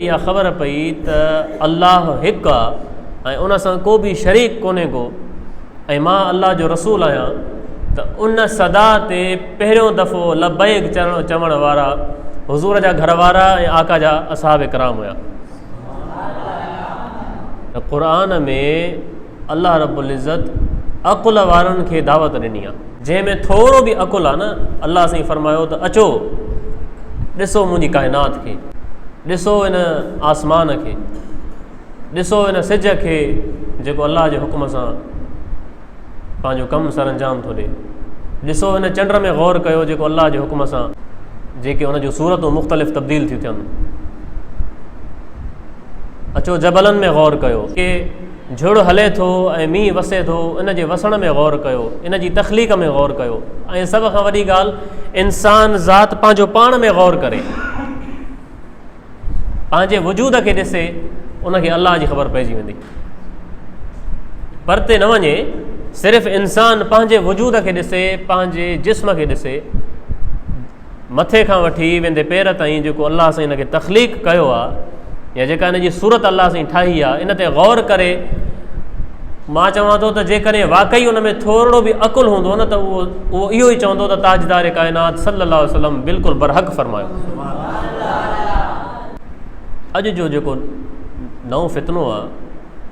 اها خبر پئي ته الله هڪ آ ۽ ان سان ڪو به شريڪ ڪونهي ڪو ۽ مان الله جو رسول آهيان ته ان صدا تي پهريون دفعو لبيڪ چرڻ چوڻ وارا حضور جا گهر وارا ۽ آقا جا اصحاب ڪرام هيا ته قرآن ۾ الله رب العزت عقل وارن کي دعوت ڏني آ جنهن ۾ ٿورو به عقل آ نه الله سائين فرمايو ته اچو ڏسو منهنجي ڪائنات کي ڏسو ان آسمان کي ڏسو ان سج کي جيڪو الله جي حڪم سان پنهنجو ڪم سر انجام ٿو ڏي ڏسو ان چنڊ ۾ غور ڪيو جيڪو الله جي حڪم سان جيڪي ان جون صورتون مختلف تبديل ٿيون ٿين اچو جبلن ۾ غور ڪيو جھڙ ھلي ٿو ۽ مينهن وسي ٿو، ان جي وسڻ ۾ غور ڪيو، ان جي تخليق ۾ غور ڪيو ۽ سڀ کان وڏي ڳالهه انسان ذات پنهنجو پاڻ ۾ غور ڪري، پنهنجي وجود کي ڏسي، ان کي الله جي خبر پئجي ويندي. پرتي نه وڃي، صرف انسان پنهنجي وجود کي ڏسي، پنهنجي جسم کي ڏسي، مٿي کان وٺي ويندي پير تائين جيڪو الله سائين ان کي تخليق ڪيو آ يا جيڪا ان جي صورت الله سائين ٺاهي آ ان تي غور ڪري مان چوان ٿو ته جيڪڏهن واقعي ان ۾ ٿورڙو به عقل هوندو نه ته اهو اهو اهو ئي چوندو ته تاجدار ڪائنات صلي الله عليه وسلم بلڪل برحق فرمايو اڄ جو جيڪو نئون فتنو آ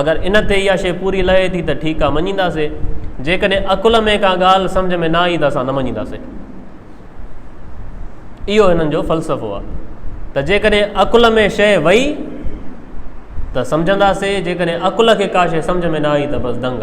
اگر ان تي اها شيء پوري لهي ٿي ته ٺيڪ آهي مڃينداسين، جيڪڏهن عقل ۾ ڪا ڳالهه سمجهه ۾ نه آئي ته اسان نه مڃينداسين. اهو هنن جو فلسفو آهي ته جيڪڏهن عقل ۾ شيء وئي ته سمجهنداسين جيڪڏهن عقل کي ڪا شيء سمجهه ۾ نه آئي ته بس دنگ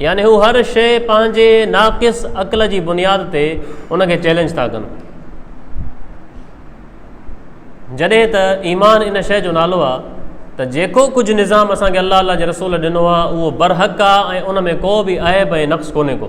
يعني هو هر شيء پنهنجي ناقص عقل جي بنياد تي ان کي چيلنج ٿا ڪن جڏهن ته ايمان ان شيء جو نالو آ ته جيڪو ڪجهه نظام اسان کي الله الله جي رسول ڏنو آ اهو برحق آ ۽ ان ۾ ڪو به عيب ۽ نقص ڪونهي ڪو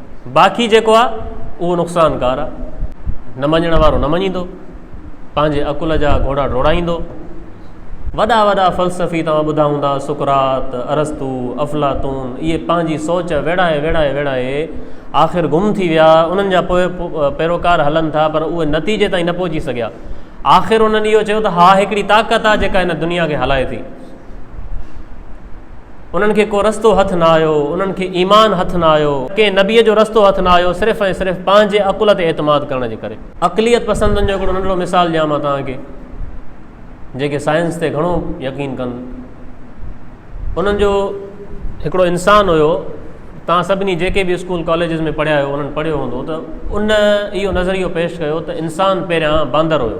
باقي جيڪو آ اهو نقصانڪار آ. نه مڃڻ وارو نه مڃيندو. پنهنجي عقل جا گهوڙا ڊوڙائيندو. وڏا وڏا فلسفي توهان ٻڌا هوندا سقراط، ارسطو، افلاطون اهي پنهنجي سوچ ويڙهائي ويڙهائي ويڙهائي آخر گم ٿي ويا انهن جا پيروڪار هلن ٿا پر اهي نتيجي تائين نه پهچي سگهيا. آخر انهن اهو چيو ته ها هڪڙي طاقت آ جيڪا هن دنيا کي هلائي ٿي. انهن کي ڪو رستو هٿ نه آيو، انهن کي ايمان هٿ نه آيو، ڪنهن نبيء جو رستو هٿ نه آيو صرف ۽ صرف پنهنجي عقل تي اعتماد ڪرڻ جي ڪري. عقليت پسندن جو هڪڙو ننڍڙو مثال ڏيان مان توهان کي، جيڪي سائنس تي گهڻو يقين ڪن. انهن جو هڪڙو انسان هيو، توهان سڀني جيڪي به اسڪول ڪاليجز ۾ پڙهيا آهيو انهن پڙهيو هوندو ته ان اهو نظريو پيش ڪيو ته انسان پهريان باندر هيو،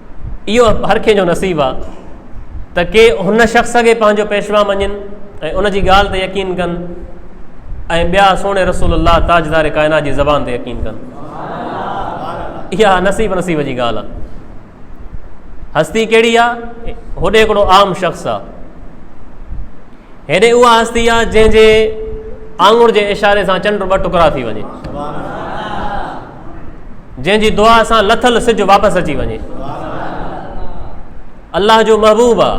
اهو هر ڪنهن جو نصيب آ ته ڪي هن شخص کي پنهنجو پيشوا مڃين ۽ ان جي ڳالهه تي يقين ڪن ۽ ٻيا سهڻي رسول الله تاجدار ڪائنات جي زبان تي يقين ڪن اها نصيب نصيب جي ڳالهه آ هستي کي آم شخص آ هيڏي اها هستي آ جنهن جي آنگور جي اشاري سان چنڊ ٻه ٽڪرا ٿي وڃي جنهن جي دعا سان لٿل سج واپس اچي وڃي الله جو محبوب آ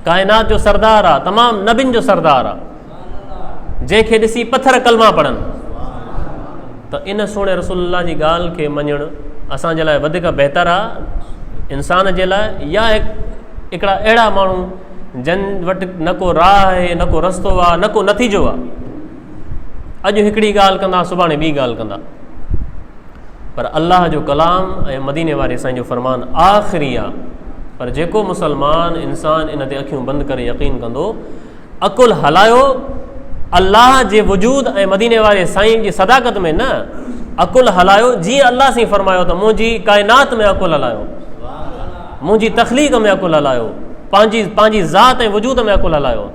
ڪائنات جو سردار آ تمام نبين جو سردار آ جنهن کي ڏسي پٿر کلما پڙن ته ان سوڻي رسول الله جي ڳالهه کي مڃڻ اسان جي لاء وڌيڪ بهتر آ انسان جي لاء يا هڪڙا اهڙا ماڻهو جن وٽ نه ڪو راهه آهي نه ڪو رستو آ نه ڪو نتيجو آ اڄ هڪڙي ڳالهه ڪندا سڀاڻي ٻي ڳالهه ڪندا پر الله جو ڪلام ۽ مديني واري سائين جو فرمان آخري آ پر جيڪو مسلمان انسان ان تي اکيون بند ڪري يقين ڪندو عقل هلايو الله جي وجود ۽ مديني واري سائين جي صداقت ۾ نه عقل هلايو جي الله سائين فرمايو ته منهنجي ڪائنات ۾ عقل هلايو منهنجي تخليق ۾ عقل هلايو پنهنجي پنهنجي ذات ۽ وجود ۾ عقل هلايو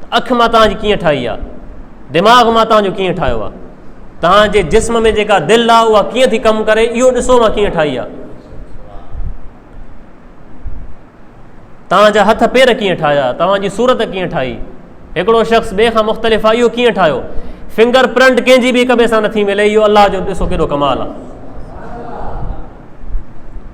ته اک مان توهان جي ڪيئن ٺاهي آ، دماغ مان توهان جو ڪيئن ٺاهيو آ، توهان جي جسم ۾ جيڪا دل آ اها ڪيئن ٿي ڪم ڪري اهو ڏسو مان ڪيئن ٺاهي آ. توهان جا هٿ پير ڪيئن ٺاهيا، توهان جي صورت ڪيئن ٺاهي، هڪڙو شخص ٻئي کان مختلف آ اهو ڪيئن ٺاهيو، فنگر پرنٽ ڪنهن جي به هڪ ٻئي سان نٿي ملي اهو الله جو ڏسو ڪيڏو ڪمال آ.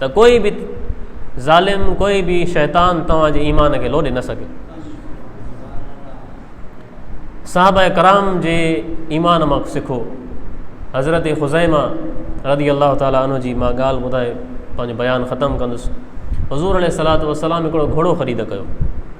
ته ڪوئي به ظالم ڪوئي به شيطان توهان جي ايمان کي لوڏي نه سگهي صاحب کرام جي ايمان مان سکو حضرت خزيما رضي الله تعالٰي ان جي مان ڳالهه ٻڌائي پنهنجو بيان ختم ڪندس حضور عليه صلاحت وسلام هڪڙو گهوڙو خريد ڪيو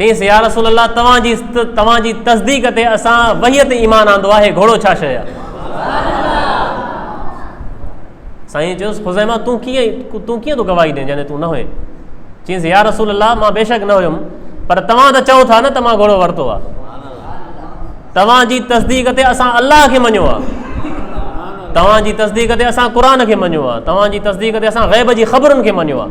چيس، يا رسول الله توهان جي توهان جي تصديق تي اسان وحي تي ايمان آندو آهي گهوڙو ڇا شيء آهي؟ سائين چيس، خزيمه تون ڪيئن تون ڪيئن ٿو گواهي ڏين جڏهن تون نه هئين؟ چيس، يا رسول الله مان بيشڪ نه هيم پر توهان ته چئو ٿا نه ته مان گهوڙو ورتو آهي توهان جي تصديق تي اسان الله کي مڃيو آهي توهان جي تصديق تي اسان قرآن کي مڃيو آهي توهان جي تصديق تي اسان غيب جي خبرن کي مڃيو آهي